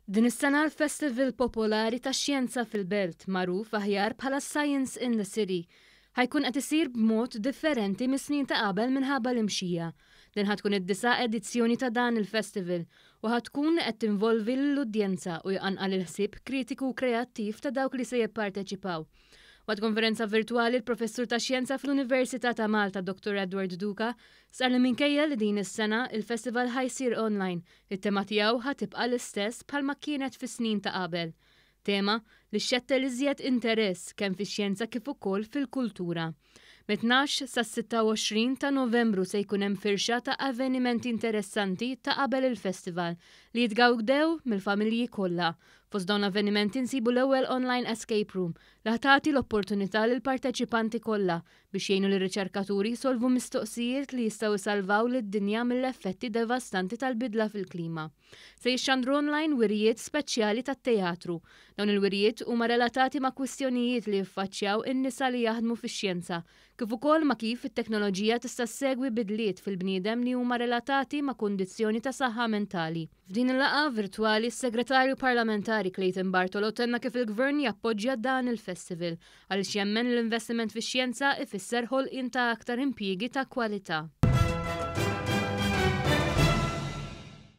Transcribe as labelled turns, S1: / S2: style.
S1: Din is-sena l-Festival Popolari tax-Xjenza fil-Belt, magħruf aħjar bħala Science in the City, ħajkun qed isir b'mod differenti mis-snin ta' qabel minħabba l-imxija. Din ħa tkun id-disa' edizzjoni ta' dan il-festival u ħa tkun qed tinvolvi lill-udjenza u jqanqal il-ħsieb kritiku u kreattiv ta' dawk li se jipparteċipaw. Waqt konferenza virtwali l-Professur tax-Xjenza fl-Università ta' Malta Dottor Edward Duca Stqarr li minkejja li din is-sena il-festival ħa jsir online, it-tema tiegħu ħa tibqa' l-istess bħalma kienet fis-snin ta' qabel. Tema li xxettel iżjed interess kemm fix-xjenza kif ukoll fil-kultura. Mit-tnax sas-26 ta' Novembru se jkun hemm firxa ta' avvenimenti interessanti ta' qabel il-festival li jitgawdew mill-familji kollha. Fost dawn l-avvenimenti nsibu l-ewwel online escape room li ħa tagħti l-opportunità lill-parteċipanti kollha biex jgħinu lir-riċerkaturi jsolvu mistoqsijiet li jistgħu jsalvaw lid-dinja mill-effetti devastanti tal-bidla fil-klima. Se jixxandru online wirjiet speċjali tat-teatru. Dawn il-wirjiet huma relatati ma' kwistjonijiet li jiffaċċjaw in-nisa li jaħdmu fix-xjenza, kif ukoll ma' kif it-teknoloġija tista' ssegwi bidliet fil-bniedem li huma relatati ma' kundizzjoni ta' saħħa mentali. F'din il-laqgħa virtwali s-Segretarju Parlamentari Clayton Bartolo tenna kif il-Gvern jappoġġja dan il-festival għaliex jemmen l-investiment fix-xjenza ifisser ħolqien ta' aktar impjiegi ta' kwalità.